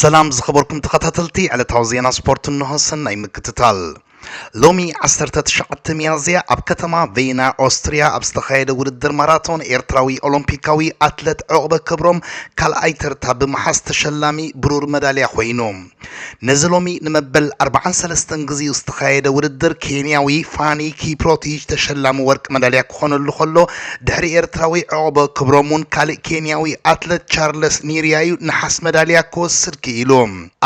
ሰላም ዝኸበርኩም ተኸታተልቲ ዕለታዊ ዜና ስፖርት እንሆ ሰናይ ምክትታል ሎሚ ዓሰርተ ትሽዓተ ሚያዝያ ኣብ ከተማ ቬና ኦስትሪያ ኣብ ዝተኻየደ ውድድር ማራቶን ኤርትራዊ ኦሎምፒካዊ ኣትለት ዕቑበ ክብሮም ካልኣይ ተርታ ብምሓዝ ተሸላሚ ብሩር መዳልያ ኮይኑ ነዚ ሎሚ ንመበል 43 ግዜኡ ዝተኻየደ ውድድር ኬንያዊ ፋኒ ኪፕሮቲጅ ተሸላሚ ወርቂ መዳልያ ክኾነሉ ከሎ ድሕሪ ኤርትራዊ ዑቕበ ክብሮም እውን ካልእ ኬንያዊ ኣትለት ቻርለስ ኒርያ እዩ ነሓስ መዳልያ ክወስድ ክኢሉ።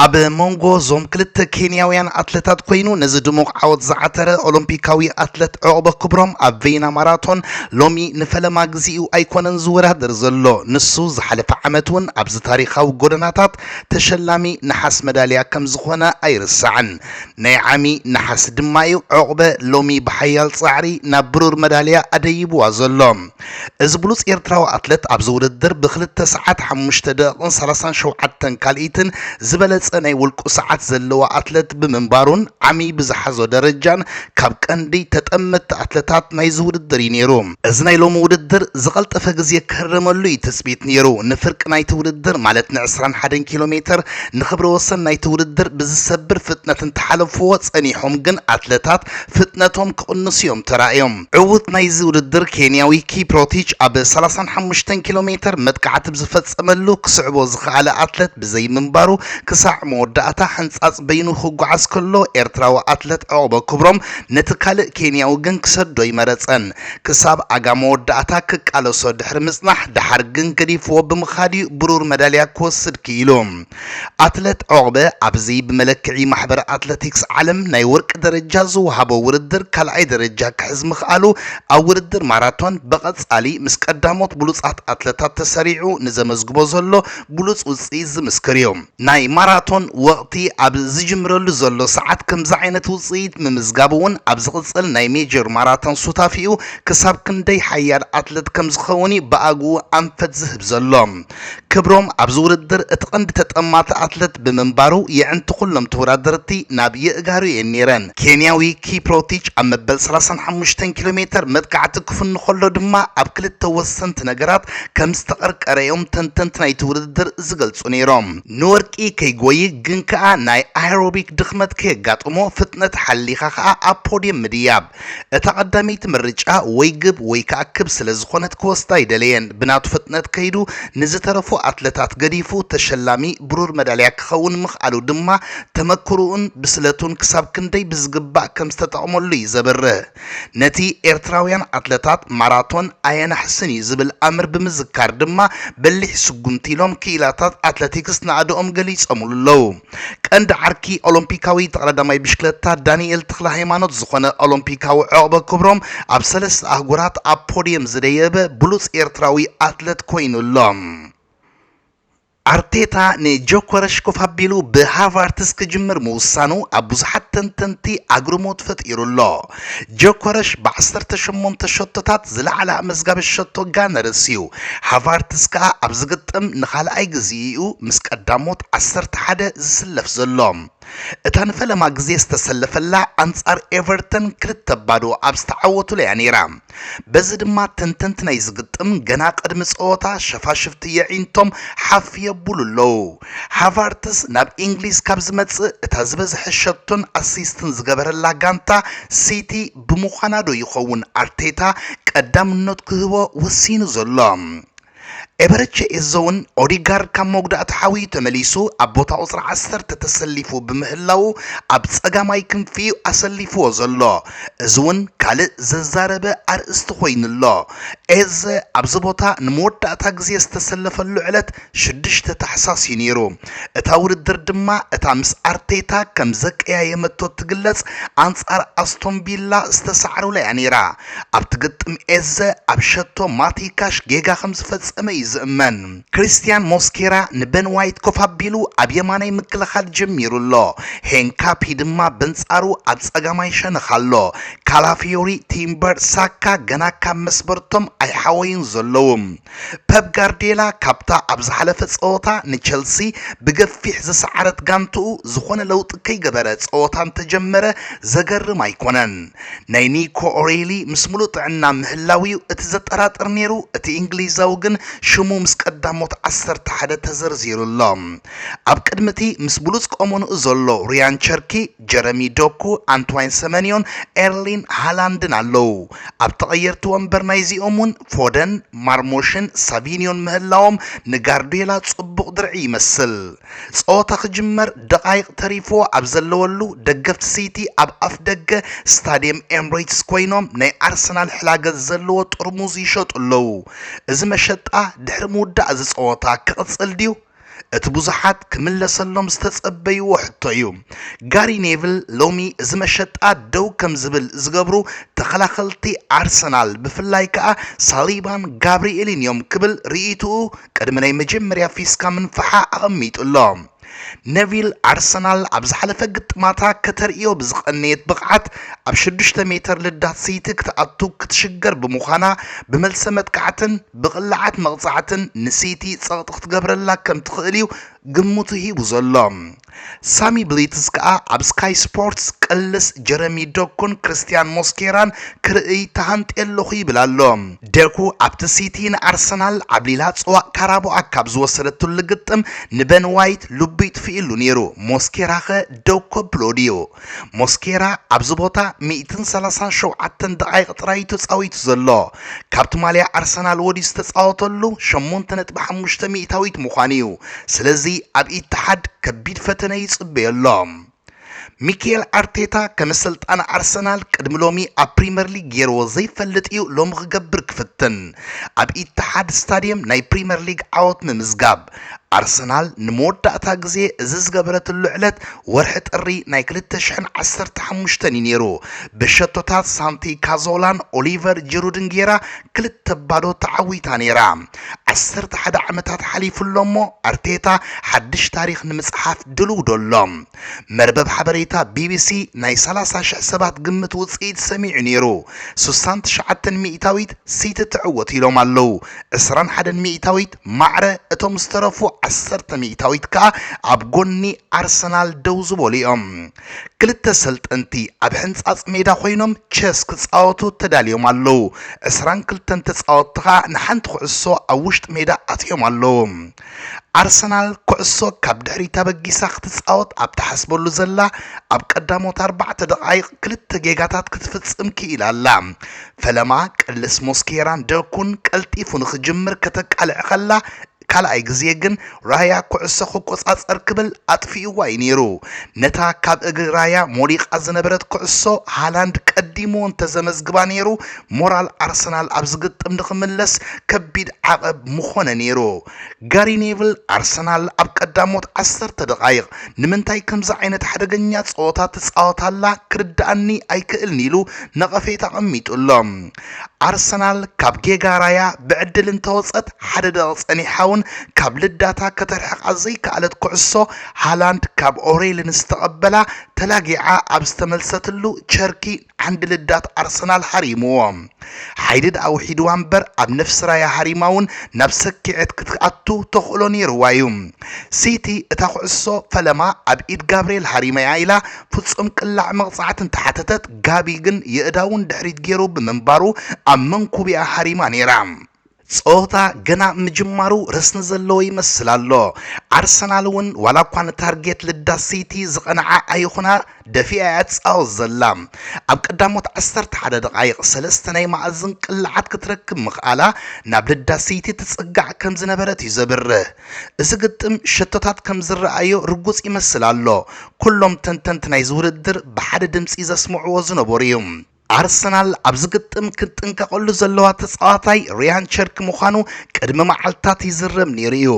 ኣብ መንጎ እዞም ክልተ ኬንያውያን ኣትለታት ኮይኑ ነዚ ድሙቕ ዓወት ዝዓተረ ኦሎምፒካዊ ኣትለት ዑቕበ ክብሮም ኣብ ቬይና ማራቶን ሎሚ ንፈለማ ግዜኡ ኣይኮነን ዝወዳደር ዘሎ። ንሱ ዝሓለፈ ዓመት እውን ኣብዚ ታሪኻዊ ጎደናታት ተሸላሚ ነሓስ መዳልያ ከምዝኾነ ኣይርሳዕን። ናይ ዓሚ ነሓስ ድማ'ዩ ዑቕበ ሎሚ ብሓያል ጻዕሪ ናብ ብሩር መዳልያ ኣደይብዋ ዘሎ። እዚ ብሉጽ ኤርትራዊ ኣትለት ኣብዚ ውድድር ብክልተ ሰዓት ሓሙሽተ ደቒቕን ሰላሳን ሸውዓተን ካልኢትን ዝበለጸ ናይ ውልቁ ሰዓት ዘለዎ ኣትለት ብምንባሩን ዓሚ ብዝሓዞ ደረጃን ካብ ቀንዲ ተጠመትቲ ኣትለታት ናይዚ ውድድር'ዩ ነይሩ። እዚ ናይ ሎሚ ውድድር ዝቐልጠፈ ግዜ ክህረመሉ እዩ ትፅቢት ነይሩ። ንፍርቂ ናይቲ ውድድር ማለት ን ዕስራን ሓደን ኪሎ ሜተር ንክብረ ወሰን ናይቲ ውድድር ብዝሰብር ፍጥነት እንተሓለፍዎ ፀኒሖም ግን ኣትለታት ፍጥነቶም ክቕንሱ እዮም ተራእዮም። ዕዉት ናይዚ ውድድር ኬንያዊ ኪፕሮቲች ኣብ ሰላሳን ሓሙሽተን ኪሎ ሜተር መጥቃዕቲ ብዝፈፀመሉ ክስዕቦ ዝኸኣለ ኣትለት ብዘይምንባሩ ክሳዕ መወዳእታ ሕንፃፅ በይኑ ክጓዓዝ ከሎ ኤርትራዊ ኣትለት ዕቕበ ክብሮም ነቲ ካልእ ኬንያዊ ግን ክሰዶ ኣይመረጸን። ክሳብ ኣጋ መወዳእታ ክቃለሶ ድሕሪ ምጽናሕ፣ ደሓር ግን ገዲፍዎ ብምኻድ'ዩ ብሩር መዳልያ ክወስድ ክኢሉ። ኣትለት ዑቕበ፣ ኣብዚ ብመለክዒ ማሕበር ኣትለቲክስ ዓለም ናይ ወርቂ ደረጃ ዝወሃቦ ውድድር ካልኣይ ደረጃ ክሕዝ ምኽኣሉ፣ ኣብ ውድድር ማራቶን ብቐጻሊ ምስ ቀዳሞት ብሉጻት ኣትለታት ተሰሪዑ ንዘመዝግቦ ዘሎ ብሉጽ ውጽኢት ዝምስክር'ዩ። ናይ ማራቶን ወቕቲ ኣብ ዝጅምረሉ ዘሎ ሰዓት ከምዚ ዓይነት ውፅኢት ምምዝጋብ እውን ኣብ ዝቕፅል ናይ ሜጀር ማራቶን ሱታፌኡ ክሳብ ክንደይ ሓያል ኣትለት ከምዝኸውን እዩ ብኣግኡ ኣንፈት ዝህብ ዘሎ። ክብሮም ኣብዚ ውድድር እቲ ቀንዲ ተጠማቲ ኣትለት ብምንባሩ የዕንቲ ኩሎም ተወዳደርቲ ናብ የእጋሩ እየን ነይረን። ኬንያዊ ኪፕሮቲች ኣብ መበል ሰላሳን ሓሙሽተን ኪሎ ሜተር መጥቃዕቲ ክፍኑ ከሎ ድማ ኣብ ክልተ ወሰንቲ ነገራት ከምዝተቐርቀረ እዮም ተንተንቲ ናይቲ ውድድር ዝገልጹ ነይሮም። ንወርቂ ከይጎዪ ግን ከኣ ናይ ኣየሮቢክ ድኽመት ከየጋጥሞ ፍጥነት ሓሊኻ ከኣ ኣብ ፖድየም ምድያብ። እታ ቀዳመይቲ ምርጫ ወይ ግብ ወይ ከኣ ክብ ስለ ዝኾነት ክወስዳ ኣይደለየን። ብናቱ ፍጥነት ከይዱ ንዝተረፉ ኣትለታት ገዲፉ ተሸላሚ ብሩር መዳልያ ክኸውን ምኽኣሉ ድማ ተመክሮኡን ብስለቱን ክሳብ ክንደይ ብዝግባእ ከም ዝተጠቕመሉ'ዩ ዘብርህ። ነቲ ኤርትራውያን ኣትለታት ማራቶን ኣየናሕስን እዩ ዝብል ኣምር ብምዝካር ድማ በሊሕ ስጉምቲ ኢሎም ክኢላታት ኣትለቲክስ ናእደኦም ገሊጾምሉ ኣለዉ። ቀንዲ ዓርኪ ኦሎምፒካዊ ተቐዳዳማይ ብሽክለታ ዳኒኤል ተኽለሃይማኖት ዝኾነ ኦሎምፒካዊ ዑቕበ ክብሮም ኣብ ሰለስተ ኣህጉራት ኣብ ፖድየም ዝደየበ ብሉጽ ኤርትራዊ ኣትለት ኮይኑ ኣሎ። ኣርቴታ ንጆከረሽ ኮፍ ኣቢሉ ብሃቫርትዝ ክጅምር ምውሳኑ ኣብ ብዙሓት ተንተንቲ ኣግርሞት ፈጢሩ ኣሎ። ጆከረሽ ብ ዓሰርተ ሸሞንተ ሸቶታት ዝለዓለ ኣመዝጋቢ ሸቶ ጋነርስ እዩ፣ ሃቫርትዝ ከኣ ኣብዚ ግጥም ንኻልኣይ ግዜኡ'ዩ ምስ ቀዳሞት ዓሰርተ ሓደ ዝስለፍ ዘሎ። እታ ንፈለማ ግዜ ዝተሰለፈላ ኣንጻር ኤቨርተን ክልተ ባዶ ኣብ ዝተዓወቱላ'ያ ነይራ። በዚ ድማ ተንተንቲ ናይዚ ግጥም ገና ቅድሚ ጸወታ ሸፋሽፍቲ የዒንቶም ሓፍ የብሉ ኣለዉ። ሃቫርትዝ ናብ ኢንግሊዝ ካብ ዝመጽእ እታ ዝበዝሐ ሸቶን ኣሲስትን ዝገበረላ ጋንታ ሲቲ ብምዃና'ዶ ይኸውን ኣርቴታ ቀዳምነት ክህቦ ወሲኑ ዘሎ? ኤበረቼ ኤዞ'ውን ኦዴጋርድ ካብ መጉዳእቲ ሓውዩ ተመሊሱ ኣብ ቦታ ቁጽሪ ዓሰርተ ተሰሊፉ ብምህላዉ ኣብ ጸጋማይ ክንፊ'ዩ ኣሰሊፍዎ ዘሎ። እዚ'ውን ካልእ ዘዛረበ ኣርእስቲ ኮይኑ ኣሎ። ኤዘ ኣብዚ ቦታ ንመወዳእታ ግዜ ዝተሰለፈሉ ዕለት ሽዱሽተ ታሕሳስ'ዩ ነይሩ። እታ ውድድር ድማ እታ ምስ ኣርቴታ ከም ዘቀያየመቶ እትግለጽ ኣንጻር ኣስቶን ቪላ ዝተሳዕሩላ'ያ ነይራ። ኣብቲ ግጥም ኤዘ ኣብ ሸቶ ማቲ ካሽ ጌጋ ከም ዝፈጸመ እዩ ዝእመን። ክሪስትያን ሞስኬራ ንበን ዋይት ኮፍ ኣቢሉ ኣብ የማናይ ምክልኻል ጀሚሩ ኣሎ። ሄንካፒ ድማ በንጻሩ ኣብ ጸጋማይ ሸነኽ ኣሎ። ካላፊዮሪ፣ ቲምበር፣ ሳካ ገና ካብ መስበርቶም ኣይሓወዩን ዘለዉ። ፐፕ ጋርድየላ ካብታ ኣብ ዝሓለፈ ጸወታ ንቸልሲ ብገፊሕ ዝሰዓረት ጋንትኡ ዝኾነ ለውጢ ከይገበረ ጸወታ እንተጀመረ ዘገርም ኣይኮነን። ናይ ኒኮ ኦሬሊ ምስ ምሉእ ጥዕና ምህላው'ዩ እቲ ዘጠራጥር ነይሩ፣ እቲ እንግሊዛዊ ግን ሽሙ ምስ ቀዳሞት ዓሰርተ ሓደ ተዘርዚሩ ኣሎ። ኣብ ቅድሚ'ቲ ምስ ብሉጽ ቆመንኡ ዘሎ ርያን ቸርኪ፣ ጀረሚ ዶኩ፣ ኣንትዋይን ሰመንዮን፣ ኤርሊን ሃላንድን ኣለዉ። ኣብ ተቐየርቲ ወንበር ናይዚኦም'ውን ፎደን፣ ማርሞሽን ሳቪንዮን ምህላዎም ንጋርድዮላ ጽቡቕ ድርዒ ይመስል። ጸወታ ክጅመር ደቓይቕ ተሪፍዎ ኣብ ዘለወሉ ደገፍቲ ሲቲ ኣብ ኣፍደገ ስታድየም ኤምሬትስ ኮይኖም ናይ ኣርሰናል ሕላገት ዘለዎ ጥርሙዝ ይሸጡ ኣለዉ። እዚ መሸጣ ድሕሪ ምውዳእ'ዚ ጸወታ ክቕጽል ድዩ? እቲ ብዙሓት ክምለሰሎም ዝተጸበይዎ ሕቶ እዩ። ጋሪ ኔቭል ሎሚ እዚ መሸጣ ደው ከም ዝብል ዝገብሩ ተኸላኸልቲ ኣርሰናል ብፍላይ ከኣ ሳሊባን ጋብሪኤልን እዮም ክብል ርእይትኡ ቅድሚ ናይ መጀመርያ ፊስካ ምንፍሓ ኣቐሚጡ ኣሎ። ነቪል ኣርሰናል ኣብ ዝሓለፈ ግጥማታ ከተርእዮ ብዝቐነየት ብቕዓት ኣብ ሽዱሽተ ሜተር ልዳት ስይቲ ክትኣቱ ክትሽገር ብምዃና ብመልሰ መጥቃዕትን ብቕላዓት መቕጻዕትን ንሲቲ ጸቕጢ ክትገብረላ ከም ትኽእል'ዩ ግምቱ ሂቡ ዘሎ። ሳሚ ብሊትዝ ከኣ ኣብ ስካይ ስፖርትስ ቅልስ ጀረሚ ዶኩን ክርስትያን ሞስኬራን ክርእይ ተሃንጥየ ኣለኹ ይብል ኣሎ። ደኩ ኣብቲ ሲቲ ንኣርሰናል ዓብሊላ ጽዋእ ካራቦኣ ካብ ዝወሰደትሉ ግጥም ንበን ዋይት ልቡ ይጥፍእሉ ነይሩ፣ ሞስኬራ'ኸ ደው ከብሎ ድዩ? ሞስኬራ ኣብዚ ቦታ ሚእትን ሰላሳን ሸውዓተን ደቓይቕ ጥራይ እዩ ተጻዊቱ ዘሎ። ካብቲ ማልያ ኣርሰናል ወዲዩ ዝተጻወተሉ ሸሞንተ ነጥቢ ሓሙሽተ ሚእታዊት ምዃኑ እዩ። ስለዚ ኣብ ኢትሓድ ከቢድ ፈተነ ይጽበዮ ኣሎ። ሚኬል ኣርቴታ ከም ኣሰልጣኒ ኣርሰናል ቅድሚ ሎሚ ኣብ ፕሪመር ሊግ ገይርዎ ዘይፈልጥ እዩ ሎሚ ክገብር ክፍትን። ኣብ ኢትሓድ ስታድየም ናይ ፕሪመር ሊግ ዓወት ምምዝጋብ። ኣርሰናል ንመወዳእታ ግዜ እዚ ዝገበረትሉ ዕለት ወርሒ ጥሪ ናይ ክልተ ሽሕን ዓሰርተ ሓሙሽተን እዩ ነይሩ። ብሸቶታት ሳንቲ ካዞላን ኦሊቨር ጂሩድን ጌራ ክልተ ባዶ ተዓዊታ ነይራ። ዓሰርተ ሓደ ዓመታት ሓሊፉ ኣሎ እሞ ኣርቴታ ሓድሽ ታሪኽ ንምጽሓፍ ድሉው ዶ ኣሎ? መርበብ ሓበሬታ ቢቢሲ ናይ ሰላሳ ሽሕ ሰባት ግምት ውጽኢት ሰሚዑ ነይሩ። ሱሳን ትሽዓተን ሚእታዊት ሲቲ ትዕወት ኢሎም ኣለዉ። ዕስራን ሓደን ሚእታዊት ማዕረ እቶም ዝተረፉ ዓሰርተ ሚእታዊት ከኣ ኣብ ጎኒ ኣርሰናል ደው ዝበሉ እዮም። ክልተ ሰልጠንቲ ኣብ ሕንጻጽ ሜዳ ኮይኖም ቸስ ክጻወቱ ተዳልዮም ኣለዉ። ዕስራን ክልተን ተጻወትቲ ከኣ ንሓንቲ ኩዕሶ ኣብ ውሽጢ ሜዳ ኣትዮም ኣለዉ። ኣርሰናል ኩዕሶ ካብ ድሕሪት ኣበጊሳ ክትጻወት ኣብ ትሓስበሉ ዘላ ኣብ ቀዳሞት ኣርባዕተ ደቓይቕ ክልተ ጌጋታት ክትፍጽም ክኢላ ኣላ። ፈለማ ቅልስ ሞስኬራን ደኩን ቀልጢፉ ንኽጅምር ከተቃልዕ ከላ፣ ካልኣይ ግዜ ግን ራያ ኩዕሶ ክቆጻጸር ክብል ኣጥፊእዋ እዩ ነይሩ። ነታ ካብ እግሪ ራያ ሞሊቓ ዝነበረት ኩዕሶ ሃላንድ ቀዲሙ እንተዘመዝግባ ነይሩ ሞራል ኣርሰናል ኣብ ዝግጥም ንኽምለስ ከቢድ ዓቐብ ምኾነ ነይሩ። ጋሪ ኔቭል፣ ኣርሰናል ኣብ ቀዳሞት ዓሰርተ ደቓይቕ ንምንታይ ከምዚ ዓይነት ሓደገኛ ጸወታ ትጻወት ኣላ ክርድኣኒ ኣይክእልን ኢሉ ነቐፌታ ኣቐሚጡ ኣሎ። ኣርሰናል ካብ ጌጋ ራያ ብዕድል እንተወጸት ሓደ ደቒቕ ጸኒሓ እውን ካብ ልዳታ ከተርሕቓ ዘይከኣለት ኩዕሶ ሃላንድ ካብ ኦሬልን ዝተቐበላ ተላጊዓ ኣብ ዝተመልሰትሉ ቸርኪ ዓንዲ ልዳት ኣርሰናል ሃሪምዎ ሓይሊ ድኣ ውሒድዋ እምበር ኣብ ነፍሲ ራያ ሃሪማ እውን ናብ ሰኪዔት ክትኣቱ ተኽእሎ ነይርዋ እዩ። ሲቲ እታ ኩዕሶ ፈለማ ኣብ ኢድ ጋብርኤል ሃሪመ እያ ኢላ ፍጹም ቅላዕ መቕጻዕቲ እንተሓተተት ጋቢ ግን የእዳዉ ንድሕሪት ገይሩ ብምንባሩ ኣብ መንኩቢኣ ሃሪማ ነይራ። ጸወታ ገና ምጅማሩ ረስኒ ዘለዎ ይመስል ኣሎ። ኣርሰናል እውን ዋላ እኳ ንታርጌት ልዳ ሲቲ ዝቐንዓ ኣይኹና ደፊኣ እያ ትጻወት ዘላ። ኣብ ቀዳሞት ዓሰርተ ሓደ ደቓይቕ ሰለስተ ናይ መኣዝን ቅላዓት ክትረክብ ምኽኣላ ናብ ልዳ ሲቲ ትጽጋዕ ከም ዝነበረት እዩ ዘብርህ። እዚ ግጥም ሸቶታት ከም ዝረኣዮ ርጉጽ ይመስል ኣሎ። ኩሎም ተንተንቲ ናይዚ ውድድር ብሓደ ድምጺ ዘስምዕዎ ዝነበሩ እዩ። ኣርሰናል ኣብዚ ግጥም ክትጥንቀቐሉ ዘለዋ ተጻዋታይ ሪያን ቸርኪ ምዃኑ ቅድሚ መዓልትታት ይዝረብ ነይሩ እዩ።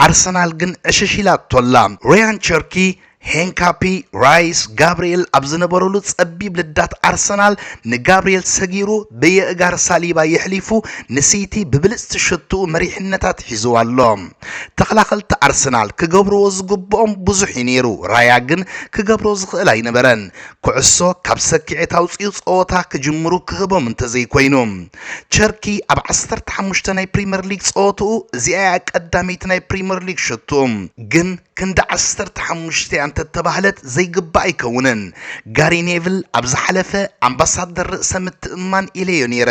ኣርሰናል ግን ዕሽሽ ኢላቶ ኣላ። ሪያን ቸርኪ፣ ሄንካፒ፣ ራይስ፣ ጋብሪኤል ኣብ ዝነበሩሉ ጸቢብ ልዳት ኣርሰናል ንጋብሪኤል ሰጊሩ ብየእጋር ሳሊባ የሕሊፉ ንሲቲ ብብልጽቲ ሸቶኡ መሪሕነት ኣትሒዝዋ ኣሎ። ተኸላኸልቲ ኣርሰናል ክገብርዎ ዝግብኦም ብዙሕ እዩ ነይሩ፣ ራያ ግን ክገብሮ ዝኽእል ኣይነበረን። ኩዕሶ ካብ ሰኪዔት ኣውጺኡ ጸወታ ክጅምሩ ክህቦም እንተዘይኮይኑ፣ ቸርኪ ኣብ ዓሰርተ ሓሙሽተ ናይ ፕሪመር ሊግ ጸወትኡ እዚኣ'ያ ቀዳመይቲ ናይ ፕሪመር ሊግ ሸትኡ። ግን ክንዲ ዓሰርተ ሓሙሽተ'ያ እንተተባህለት ዘይግባእ ኣይከውንን። ጋሪ ኔቭል ኣብ ዝሓለፈ ኣምባሳደር ርእሰ ምትእምማን ኢለዮ ነይረ፣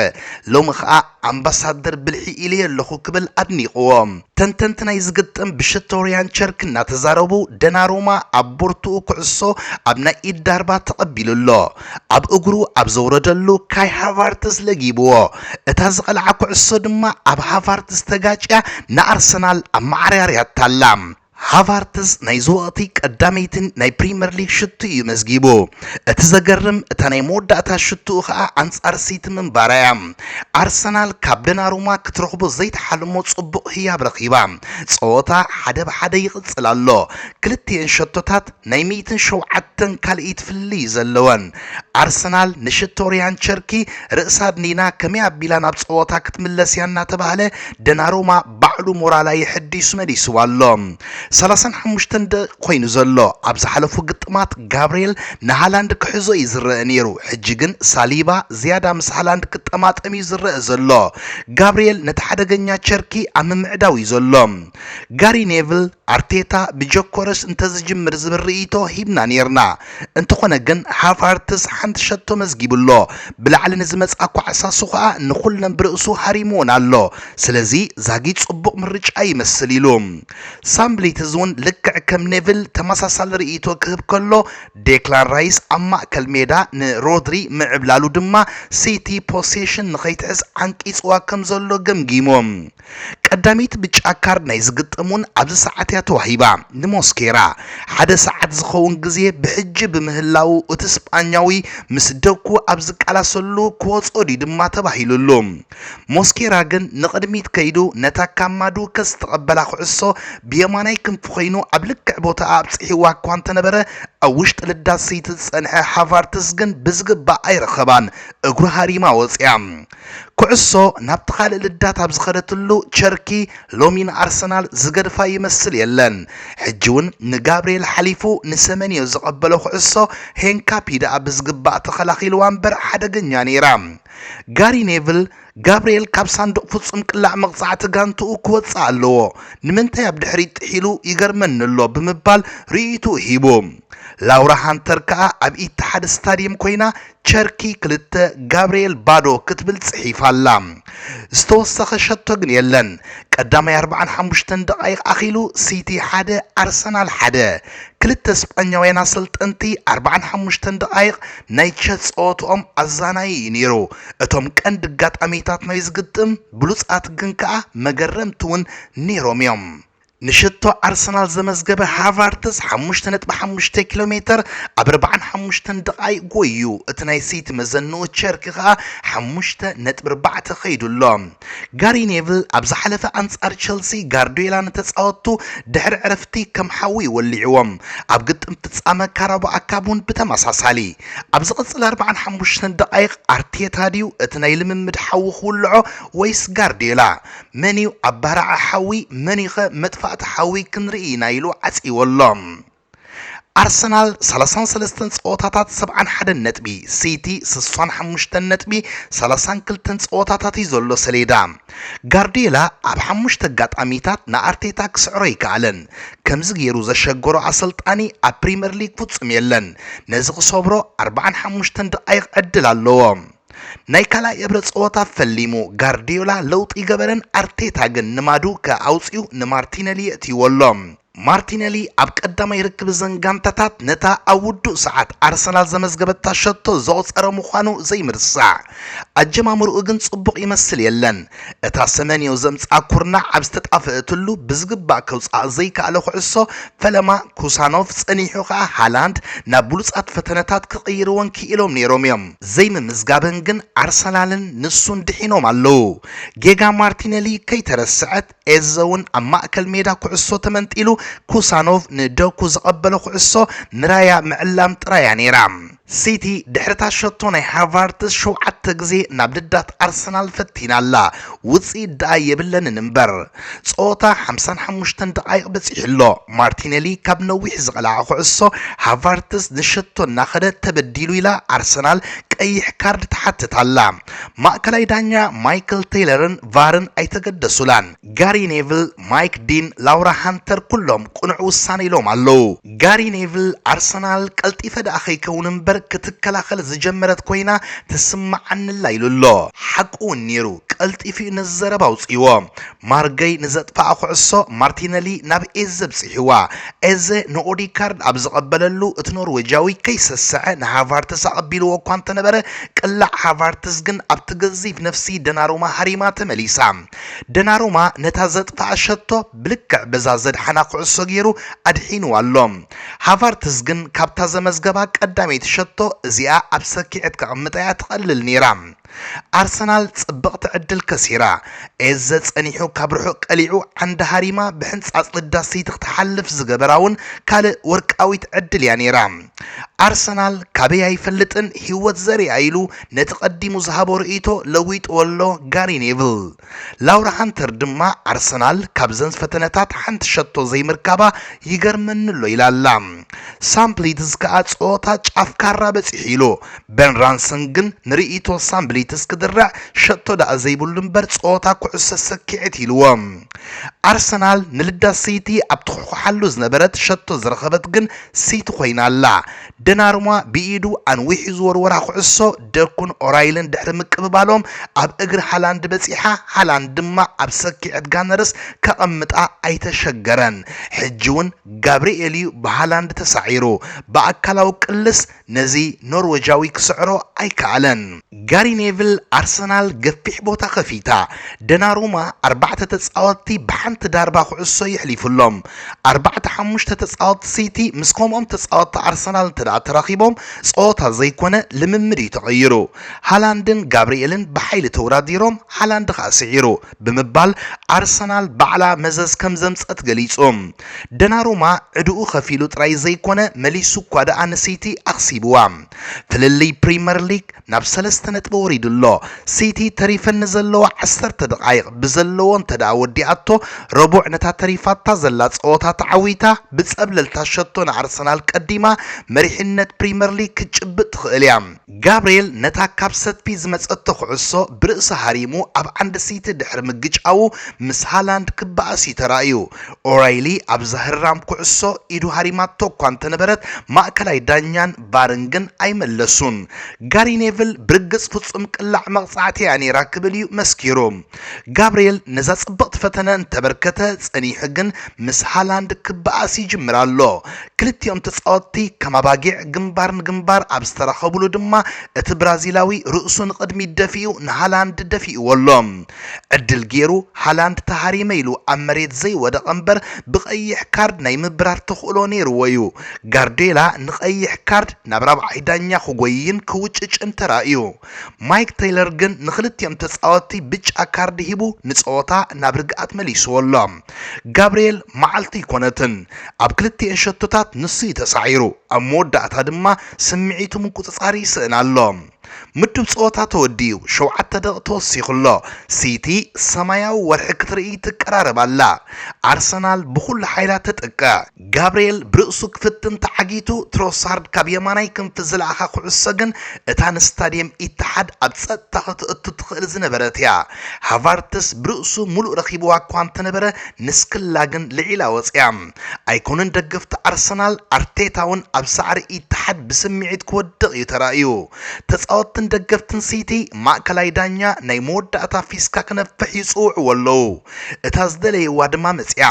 ሎሚ ከኣ ኣምባሳደር ብልሒ ኢለዮ ኣለኹ ክብል ኣድኒቕዎ። ተንተንቲ ናይዚ ግጥም ብሽቶርያን ቸርክ እናተዛረቡ ደናሩማ ኣብ ቦርትኡ ኩዕሶ ኣብ ናይ ኢድ ዳርባ ተቐቢሉ ኣሎ። ኣብ እግሩ ኣብ ዘውረደሉ ካይ ሃቫርትዝ ለጊብዎ። እታ ዝቐልዓ ኩዕሶ ድማ ኣብ ሃቫርትዝ ተጋጭያ ንኣርሰናል ኣመዓርያርያታ ኣላ። ሃቫርትዝ ናይ ዝወቕቲ ቀዳመይቲን ናይ ፕሪመር ሊግ ሽቱ እዩ መዝጊቡ። እቲ ዘገርም እታ ናይ መወዳእታ ሽቱኡ ከኣ ኣንጻር ሲቲ ምንባራ እያ። ኣርሰናል ካብ ደናሩማ ክትረኽቦ ዘይትሓልሞ ጽቡቕ ህያብ ረኺባ። ጸወታ ሓደ ብ ሓደ ይቕጽል ኣሎ። ክልቲኤን ሸቶታት ናይ ሚእትን ሸውዓተን ካልኢት ፍልልይ እዩ ዘለወን። ኣርሰናል ንሽቶ ሪያን ቸርኪ ርእሳ ኣድኒና ከመይ ኣቢላ ናብ ጸወታ ክትምለስ እያ እናተባህለ ደናሩማ ባዕሉ ሞራላ የሐዲሱ መሊስዋ ኣሎ። ሰላሳን ሓሙሽተን ደቂቅ ኮይኑ ዘሎ። ኣብ ዝሓለፉ ግጥማት ጋብርኤል ንሃላንድ ክሕዞ እዩ ዝረኣ ነይሩ፣ ሕጂ ግን ሳሊባ ዝያዳ ምስ ሃላንድ ክጠማጠም እዩ ዝረኣ ዘሎ። ጋብርኤል ነቲ ሓደገኛ ቸርኪ ኣብ ምምዕዳው እዩ ዘሎ። ጋሪ ኔቭል፣ ኣርቴታ ብጆኮረስ እንተዝጅምር ዝብል ርእይቶ ሂብና ነይርና፣ እንተኾነ ግን ሃቫርትዝ ሓንቲ ሸቶ መዝጊቡ ኣሎ፣ ብላዕሊ ንዝመጽኣ ኳዕሳሱ ከኣ ንኹለን ብርእሱ ሃሪምወን ኣሎ። ስለዚ ዛጊት ጽቡቕ ምርጫ ይመስል ኢሉ። ሳም ብሊትዝ'ውን ልክዕ ከም ኔቭል ተመሳሳሊ ርእይቶ ክህብ ከሎ፣ ዴክላን ራይስ ኣብ ማእከል ሜዳ ንሮድሪ ምዕብላሉ ድማ ሲቲ ፖሴሽን ንኸይትሕዝ ዓንቂጽዋ ከም ዘሎ ገምጊሙ። ቀዳመይቲ ብጫ ካርድ ናይ ዝግጠም'ውን ኣብዚ ሰዓት እያ ተዋሂባ፣ ንሞስኬራ። ሓደ ሰዓት ዝኸውን ግዜ ብሕጂ ብምህላዉ እቲ ስጳኛዊ ምስ ደኩ ኣብ ዝቃላሰሉ ክወጽኦ ድዩ ድማ ተባሂሉሉ። ሞስኬራ ግን ንቕድሚት ከይዱ ነታ ካብ ማዱወከ ዝተቐበላ ኩዕሶ ብየማናይ ክንፉ ኮይኑ ኣብ ልክዕ ቦታኣ ኣብጺሕዋ እኳ እንተነበረ ኣብ ውሽጢ ልዳት ስይቲ ዝጸንሐ ሃቫርትዝ ግን ብዝግባእ ኣይረኸባን እግሩ ሃሪማ ወጺኣ ኩዕሶ ናብቲ ካልእ ልዳት ኣብ ዝኸደትሉ ቸርኪ ሎሚ ንኣርሰናል ዝገድፋ ይመስል የለን ሕጂ እውን ንጋብርኤል ሓሊፉ ንሰመንዮ ዘቐበሎ ኩዕሶ ሄንካፒ ደኣ ብዝግባእ ተኸላኺልዋ እምበር ሓደገኛ ነይራ ጋሪ ኔቭል፣ ጋብርኤል ካብ ሳንዱቕ ፍጹም ቅላዕ መቕጻዕቲ ጋንትኡ ክወጽእ ኣለዎ፣ ንምንታይ ኣብ ድሕሪት ጥሒሉ ይገርመኒ ኣሎ ብምባል ርእይትኡ ሂቡ። ላውራ ሃንተር ከኣ ኣብ ኢትሓድ ስታድየም ኮይና ቸርኪ ክልተ ጋብርኤል ባዶ ክትብል ጽሒፋ ኣላ። ዝተወሰኸ ሸቶ ግን የለን። ቀዳማይ ኣርብዓን ሓሙሽተን ደቓይቕ ኣኺሉ ሲቲ ሓደ ኣርሰናል ሓደ ክልተ ስጳኛውያን ኣሰልጠንቲ ኣርባዓን ሓሙሽተን ደቓይቕ ናይ ቸት ጸወትኦም ኣዛናዪ እዩ ነይሩ። እቶም ቀንዲ ኣጋጣሚታት ናይዚ ግጥም ብሉጻት ግን ከኣ መገረምቲ እውን ነይሮም እዮም። ንሽቶ ኣርሰናል ዘመዝገበ ሃቫርትዝ ሓሙሽተ ነጥቢ ሓሙሽተ ኪሎ ሜተር ኣብ ኣርባዓን ሓሙሽተን ደቓይቕ ጎይዩ፣ እቲ ናይ ሲቲ መዘንኡ ቸርኪ ከኣ ሓሙሽተ ነጥቢ ኣርባዕተ ከይዱ ኣሎ። ጋሪ ኔቭል ኣብ ዝሓለፈ ኣንጻር ቸልሲ ጋርድዮላ ንተጻወትቱ ድሕሪ ዕረፍቲ ከም ሓዊ እዩ ወሊዕዎም። ኣብ ግጥም ፍጻመ ካራባኦ ካፕ እውን ብተመሳሳሊ። ኣብ ዝቕጽል ኣርባዓን ሓሙሽተን ደቓይቕ ኣርቴታ ድዩ እቲ ናይ ልምምድ ሓዊ ክውልዖ ወይስ ጋርድዮላ? መን'ዩ ኣባራዒ ሓዊ መን'ዩኸ መጥፋእቲ ሓዊ ክንርኢ ኢና ኢሉ ዓጽይዎ ኣሎ። ኣርሰናል ሰላሳን ሰለስተን ፀወታታት ሰብዓን ሓደን ነጥቢ፣ ሲቲ ስሳን ሓሙሽተን ነጥቢ ሰላሳን ክልተን ፀወታታት እዩ ዘሎ ሰሌዳ። ጋርዲዮላ ኣብ ሓሙሽተ ኣጋጣሚታት ንኣርቴታ ክስዕሮ ኣይከኣለን። ከምዚ ገይሩ ዘሸገሮ ኣሰልጣኒ ኣብ ፕሪምየር ሊግ ፍፁም የለን። ነዚ ክሰብሮ ኣርባዓን ሓሙሽተን ደቓይቕ ዕድል ኣለዎ። ናይ ካልኣይ እብረ ፀወታ ፈሊሙ ጋርዲዮላ ለውጢ ገበረን ኣርቴታ ግን ንማዱከ ኣውፂኡ ንማርቲነሊ የእትይዎ ኣሎ። ማርቲነሊ ኣብ ቀዳማይ ርክብ እዘን ጋንታታት ነታ ኣብ ውዱእ ሰዓት ኣርሰናል ዘመዝገበታ ሸቶ ዘቑጸረ ምዃኑ ዘይምርሳዕ፣ ኣጀማምርኡ ግን ጽቡቕ ይመስል የለን። እታ ሰመንዮ ዘምጽኣ ኩርናዕ ኣብ ዝተጣፍእትሉ ብዝግባእ ከውጽኣ ዘይከኣለ ኩዕሶ ፈለማ ኩሳኖቭ ጸኒሑ ከኣ ሃላንድ ናብ ብሉጻት ፈተነታት ክቕይርወን ክኢሎም ነይሮም እዮም። ዘይምምዝጋበን ግን ኣርሰናልን ንሱን ድሒኖም ኣለዉ። ጌጋ ማርቲነሊ ከይተረስዐት፣ ኤዘውን ኣብ ማእከል ሜዳ ኩዕሶ ተመንጢሉ ኩሳኖቭ ንዶኩ ዘቐበሎ ኩዕሶ ንራያ ምዕላም ጥራይ እያ ነይራ። ሲቲ ድሕሪ'ታ ሸቶ ናይ ሃቫርትዝ ሸውዓተ ግዜ ናብ ልዳት ኣርሰናል ፈቲና ኣላ፣ ውጽኢት ደኣ የብለንን እምበር። ጸወታ ሓምሳን ሓሙሽተን ደቓይቕ በጺሑ ኣሎ፣ ማርቲነሊ ካብ ነዊሕ ዝቐልዓ ኩዕሶ ሃቫርትዝ ንሸቶ እናኸደ ተበዲሉ ኢላ ኣርሰናል ቀይሕ ካርድ ትሓትት ኣላ። ማእከላይ ዳኛ ማይክል ተይለርን ቫርን ኣይተገደሱላን። ጋሪ ኔቭል፣ ማይክ ዲን፣ ላውራ ሃንተር ኩሎም ቅኑዕ ውሳነ ኢሎም ኣለዉ። ጋሪ ኔቭል፣ ኣርሰናል ቀልጢፈ ደኣ ከይከውን እምበር ክትከላኸል ዝጀመረት ኮይና ትስምዓኒ'ላ ኢሉ ኣሎ። ሓቁ'ውን ነይሩ፣ ቀልጢፉ'ዩ ነዚ ዘረባ ኣውጺእዎ። ማርገይ ንዘጥፍኣ ኩዕሶ ማርቲነሊ ናብ ኤዘ ኣብጺሕዋ። ኤዘ ንኦዴጋርድ ኣብ ዝቐበለሉ፣ እቲ ኖርወጃዊ ከይሰሰዐ ንሃቫርትዝ ኣቐቢልዎ እኳ እንተነበረ፣ ቅላዕ ሃቫርትዝ ግን ኣብቲ ገዚፍ ነፍሲ ደናሩማ ሃሪማ ተመሊሳ። ደናሩማ ነታ ዘጥፍኣ ሸቶ ብልክዕ በዛ ዘድሓና ኩዕሶ ገይሩ ኣድሒንዋ ኣሎ። ሃቫርትዝ ግን ካብታ ዘመዝገባ ቀዳመይቲ ሸቶ እዚኣ ኣብ ሰኪዔት ከቕምጣ'ያ ትቐልል ነይራ። ኣርሰናል ጽብቕቲ ዕድል ከሲራ፣ ኤዘ ጸኒሑ ካብ ርሑቕ ቀሊዑ ዓንዲ ሃሪማ ብሕንጻጽ ንዳስ ሲቲ ክትሓልፍ ዝገበራ'ውን ካልእ ወርቃዊት ዕድል'ያ ነይራ። ኣርሰናል ካበይ ኣይፈልጥን ህይወት ዘሪኣ ኢሉ ነቲ ቀዲሙ ዝሃቦ ርእይቶ ለዊጥዎ'ሎ ጋሪ ኔቭል። ላውራ ሃንተር ድማ ኣርሰናል ካብዘን ፈተነታት ሓንቲ ሸቶ ዘይምርካባ ይገርመኒ ኣሎ ኢላ ኣላ። ሳም ብሊትዝ ከኣ ጸወታ ጫፍ ካራ በጺሑ ኢሉ። በን ራንሰን ግን ንርእይቶ ሳም ብሊትዝ ክድርዕ ሸቶ ደኣ ዘይብሉ እምበር ጸወታ ኩዕሶ ሰኪዔት ኢልዎ። ኣርሰናል ንልዳት ሲቲ ኣብ ትኹሕኩሓሉ ዝነበረት ሸቶ ዝረኸበት ግን ሲቲ ኮይና ኣላ። ደናሩማ ብኢዱ ኣንዊሑ ዝወርወራ ኩዕሶ ደኩን ኦራይልን ድሕሪ ምቅብባሎም ኣብ እግሪ ሃላንድ በጺሓ፣ ሃላንድ ድማ ኣብ ሰኪዔት ጋነርስ ከቐምጣ ኣይተሸገረን። ሕጂ'ውን ጋብሪኤል'ዩ ብሃላንድ ተሳዒሩ። ብኣካላዊ ቅልስ ነዚ ኖርወጃዊ ክስዕሮ ኣይከኣለን። ጋሪ ኔቭል ኣርሰናል ገፊሕ ቦታ ከፊታ፣ ደናሩማ ኣርባዕተ ተጻወትቲ ብሓንቲ ዳርባ ኩዕሶ የሕሊፉሎም። ኣርባዕተ ሓሙሽተ ተጻወትቲ ሲቲ ምስ ከምኦም ተጻወትቲ ኣርሰናል እንተደኣ ተራኺቦም ጸወታ ዘይኮነ ልምምድ እዩ ተቐይሩ። ሃላንድን ጋብሪኤልን ብሓይሊ ተውዳዲሮም ሃላንድ ከኣ ስዒሩ ብምባል ኣርሰናል ባዕላ መዘዝ ከም ዘምጸት ገሊጹ። ደናሩማ ዕድኡ ከፊሉ ጥራይ ዘይኮነ መሊሱ እኳ ደኣ ንሲቲ ኣኽሲብዋ። ፍልልይ ፕሪመር ሊግ ናብ ሰለስተ ነጥቢ ወሪዱ ኣሎ። ሲቲ ተሪፈን ንዘለዋ ዓሰርተ ደቓይቕ ብዘለዎ እንተደኣ ወዲኣቶ፣ ረቡዕ ነታ ተሪፋታ ዘላ ጸወታ ተዓዊታ ብጸብለልታ ሸቶ ንኣርሰናል ቀዲማ መሪሕነት ፕሪመር ሊግ ክትጭብጥ ትኽእል እያ። ጋብርኤል ነታ ካብ ሰትፒ ዝመጸቶ ኩዕሶ ብርእሱ ሃሪሙ ኣብ ዓንዲ ሲቲ ድሕሪ ምግጫዉ ምስ ሃላንድ ክበኣስ እዩ ተራእዩ። ኦራይሊ ኣብ ዘህራም ኩዕሶ ኢዱ ሃሪማቶ እኳ እንተነበረት ማእከላይ ዳኛን ቫርን ግን ኣይመለሱን። ጋሪ ኔቭል ብርግጽ ፍጹም ቅላዕ መቕጻዕቲ'ያ ነይራ ክብል እዩ መስኪሩ። ጋብርኤል ነዛ ጽብቕቲ ፈተነ እንተበርከተ ጸኒሑ ግን ምስ ሃላንድ ክበኣስ ይጅምር ኣሎ። ክልቲኦም ተጻወትቲ ከም ኣባጊዕ ግንባር ንግንባር ኣብ ዝተራኸብሉ ድማ እቲ ብራዚላዊ ርእሱ ንቕድሚት ደፊኡ ንሃላንድ ደፊእዎ ኣሎ። ዕድል ጌሩ ሃላንድ ተሃሪመ ኢሉ ኣብ መሬት ዘይወደቐ እምበር ብቀይሕ ካርድ ናይ ምብራር ተኽእሎ ኔርዎ'ዩ። ጋርድዮላ ንቀይሕ ካርድ ናብ ራብዓይ ዳኛ ክጎይይን ክውጭጭን ተራእዩ። ማይክ ተይለር ግን ንኽልቲኦም ተጻወትቲ ብጫ ካርድ ሂቡ ንጸወታ ናብ ርግኣት መሊስዎ ኣሎ። ጋብርኤል መዓልቱ ኣይኮነትን። ኣብ ክልቲኤን ሸቶታት ንሱ'ዩ ተሳዒሩ፣ ኣብ መወዳእታ ድማ ስምዒቱ ምቁጽጻር ይስእን ኣሎ። ምዱብ ጸወታ ተወዲኡ ሸውዓተ ደቕቕ ተወሲኹ'ሎ። ሲቲ ሰማያዊ ወርሒ ክትርኢ ትቀራረብ ኣላ። ኣርሰናል ብኹሉ ሓይላ ተጠቅዕ። ጋብርኤል ብርእሱ ክፍትን ተዓጊቱ፣ ትሮሳርድ ካብ የማናይ ክንፊ ዝለኣኻ ኩዕሶ ግን እታ ንስታድየም ኢትሓድ ኣብ ጸጥታ ከተእቱ ትኽእል ዝነበረት'ያ። ሃቫርትስ ብርእሱ ምሉእ ረኺብዋ'ኳ እንተነበረ ንስክላ ግን ልዒላ ወጺኣ። ኣይኮነን ደገፍቲ ኣርሰናል፣ ኣርቴታ'ውን ኣብ ሳዕሪ ኢትሓድ ብስምዒት ክወድቕ እዩ ተራእዩ። ተጻወትትን ደገፍትን ሲቲ፣ ማእከላይ ዳኛ ናይ መወዳእታ ፊስካ ክነፍሕ ይጽውዕዎ ኣለዉ። እታ ዝደለይዋ ድማ መጺኣ።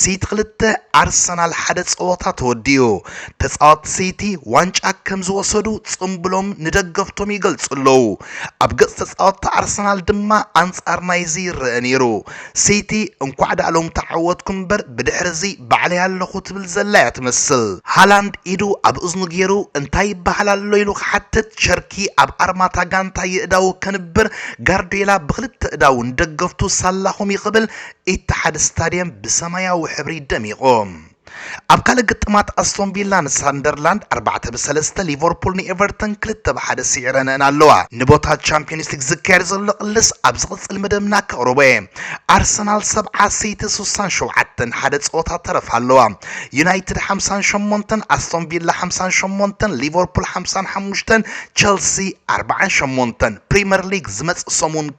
ሲቲ ክልተ፣ ኣርሰናል ሓደ ጸወታ ተወዲኡ። ተጻወትቲ ሲቲ ዋንጫ ከም ዝወሰዱ ጽምብሎም ንደገፍቶም ይገልጹ ኣለዉ። ኣብ ገጽ ተጻወትቲ ኣርሰናል ድማ ኣንጻር ናይዚ ይረኣ ነይሩ። ሲቲ እንኳዕ ዳኣ ሎሚ ተዓወትኩም እምበር ብድሕሪ እዚ ባዕለይ ኣለኹ ትብል ዘላ እያ ትመስል። ሃላንድ ኢዱ ኣብ እዝኑ ጌሩ እንታይ ይበሃል ኣሎ ኢሉ ክሓትት ቸርኪ ኣብ ኣርማታ ጋንታ የእዳዉ ከንብር ጋርድዮላ ብኽልተ እዳዉ ንደገፍቱ ሳላኹም ይኽብል ኢትሓድ ስታድየም ብሰማያዊ ሕብሪ ደሚቑ። ኣብ ካልእ ግጥማት ኣስቶን ቪላ ንሳንደርላንድ ኣርባዕተ ብ ሰለስተ፣ ሊቨርፑል ንኤቨርተን ክልተ ብ ሓደ ስዒረን'ን ኣለዋ። ንቦታ ቻምፕዮንስ ሊግ ዝካየድ ዘሎ ቅልስ ኣብ ዝቕጽል መደብና ከቕርቦ'የ። ኣርሰናል ሰብዓ፣ ሲቲ ስሳን ሸውዓተን፣ ሓደ ጸወታ ተረፍ ኣለዋ። ዩናይትድ ሓምሳን ሸሞንተን፣ ኣስቶን ቪላ ሓምሳን ሸሞንተን፣ ሊቨርፑል ሓምሳን ሓሙሽተን፣ ቸልሲ ኣርባዓን ሸሞንተን። ፕሪመር ሊግ ዝመጽእ ሰሙን